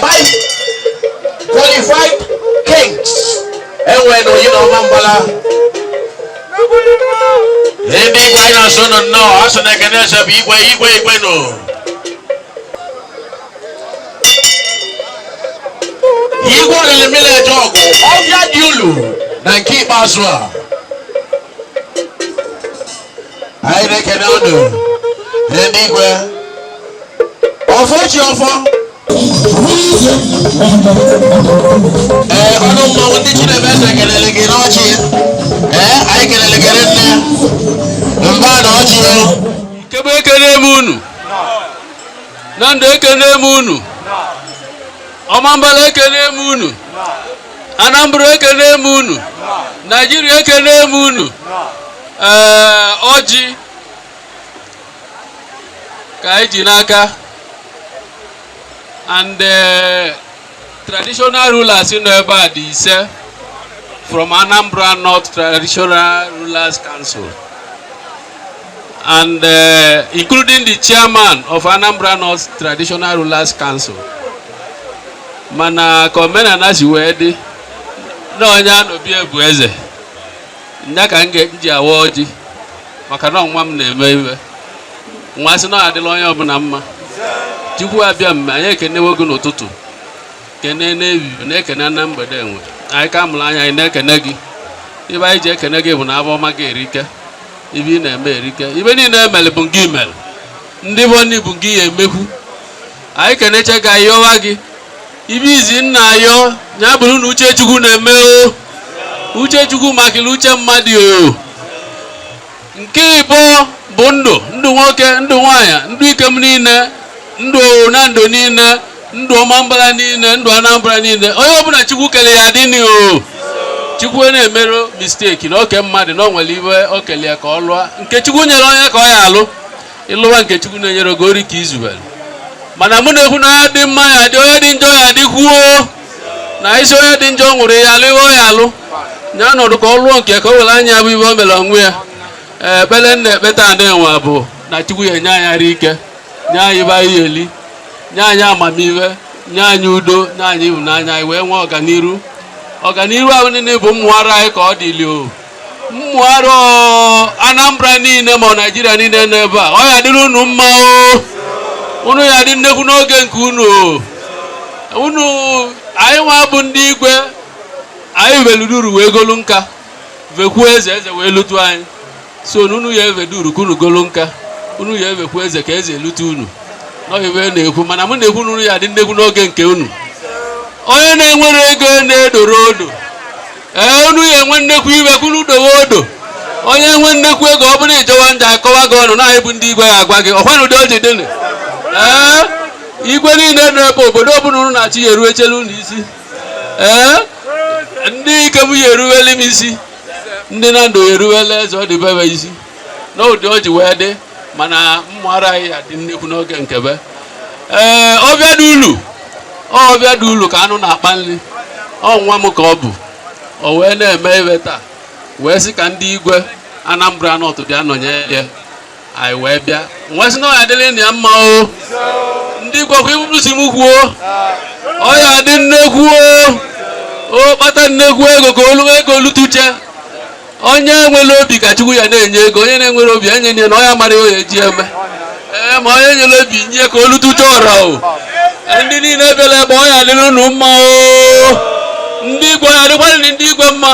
Five qualified kings enwe na oyi na ọmambala ebe igwe anyị na-asị unu nnọọ asụ na ekene eze bụ igwe igwe igwe nụ igwe olili mileji ọgụ ọbịa dị ulu na nke ikpeazụ a anyị na-ekene ọnụ ndị igwe ọfọ chi ọfọ ee ọnụ mmanwụ ndị chinebe eze kelele gị n'ọchị ee anyị kelele gị nne mba na ọchị ikem ekele m unu nando ekene m unu ọmambala ekene m unu anambra ekene m unu naijiria ekene m unu ee ọjị ka anyị ji n'aka and eh, traditional rulers nọ ebe a dị ise from Anambra North Traditional Rulers Council and uh, including the chairman of Anambra North Traditional Rulers Council mana ka omenana si wee dị na onye anọ be ya bụ eze nya ka m ji awa ọjị maka na nwa m na-eme iwe wa sị na ọ adịlị onye ọbụna mma chukwu abịama anyị ekenewe gị n'ụtụtụ kene n'evivie na-ekene na mgbede ebe anyị ka mụrụ anya anyị na-ekene gị ive anyị ji ekene gị bụ na avọ ọma gị erike ive ị na-eme erike ive niile emere bụ gị mere ndị vọnị bụ gị ya emekwu anyị keneche gị anyị yọwa gị ive izizi m na-ayọ ya bụrụ na uche chukwu na-eme o uche chukwu makalị uche mmadụ o nke ibụa bụ ndụ ndụ nwoke ndụ nwaanyị ndụ ikem niile ndụ nando niile ndụ ọmambala niile ndụ anambra niile onye ọbụna chukwu kele ya adịnị o chukwu na-emerọ mistake na o ke mmadụ na o nwere ive o kele ya ka ọ lụọ nke chukwu nyere onye ka ọ ya alụ ị lụwa nke chukwu na-enyerọ gị ori ka i zuwere mana mụ na-ekwu na onye dị mma ya dị onye dị njọ ya dịkwuo na ị sị onye dị njọ nwụrụ ya alụ ihe ya alụ ya nọdụ ka ọ lụọ nke ka o were anya vụ ive o mere onwe ya ekpere m na-ekpe taa nwa bụ na chukwu ya nye anyị arụ ike nye anyị ive anyị eli nye anyị amamihe nye anyị udo nye anyị ịhụnanya anyị wee nwee ọganiru ọganiru ahụ niile bụ mmụọ ara anyị ka ọ dịlị o ụmụarọ Anambra niile ma Naijiria niile n'ebe a ọ ya dịrị unu mma unu ya dị nnekwu n'oge nke unu unu anyị nwa bụ ndị igwe anyị veluduru wee golu nka vekwuo eze eze wee lute anyị so unu ya eveduru ka unu golu nka unu ya evekwu eze ka eze elute unu n'ọ ihe a na-ekwu mana mụ na-ekwu unu ya dị nnekwu n'oge nke unu onye na-enwerọ ego na-edoro odo ee unu ya enwe nnekwu ego unu dowe odo onye nwe nnekwu ego ọ bụrụ ị jọwa njọ a kọwa gị ọnụ na bụ ndị igwe ya agwa gị ọkwa na ụdị o ji dịnụ ee igwe niile nọ ebe obodo ọbụla unu na-achị ya eruwelu unu isi ee ndị nke m ya eruwele m isi ndị Nando ya eruwele eze ọ dị be be isi n'ụdị o ji wee dị mana ụmụarọ anyị ya dị nnekwu n'oge nke be ee ọvịa dị ulu ọvịa dị ulu ka anụ na-akpa nri ọ nwa m ka ọ bụ o wee na-eme ive taa wee sị ka ndị igwe Anambra North bịa nọnye ya anyị wee bịa wee sị na ọ ya adịrị na ya mma o ndị igwe ka iburu si m kwuo ọ ya adị nnekwu o o kpata nnekwu ego ka olu ego lutuche onye nwere obi ka chukwu ya na-enye ego onye na-enwerọ obi e nye ya na ọ ya amarọ iye ọ ya eji eme ee ma onye nwere obi nye ka o lutucha ọra o ndị niile bịalụ ebe ọ ya adịrị unu mma o ndị igwe ya adịkwara ndị igwe mma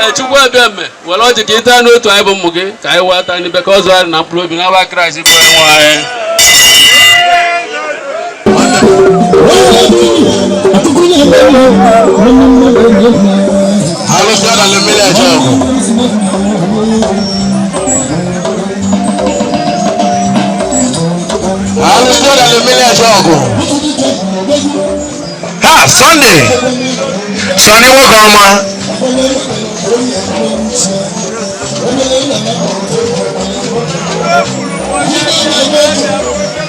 ee chukwu abịama were ọjị ka ị ta n'otu anyị bụ ụmụ gị ka anyị wee ata n'ibe ka ọ zụọ arụ na mkpụrụ obi n'ava kraịst bụ onye nwe anyị ha Sunday Sunday nwoke ọma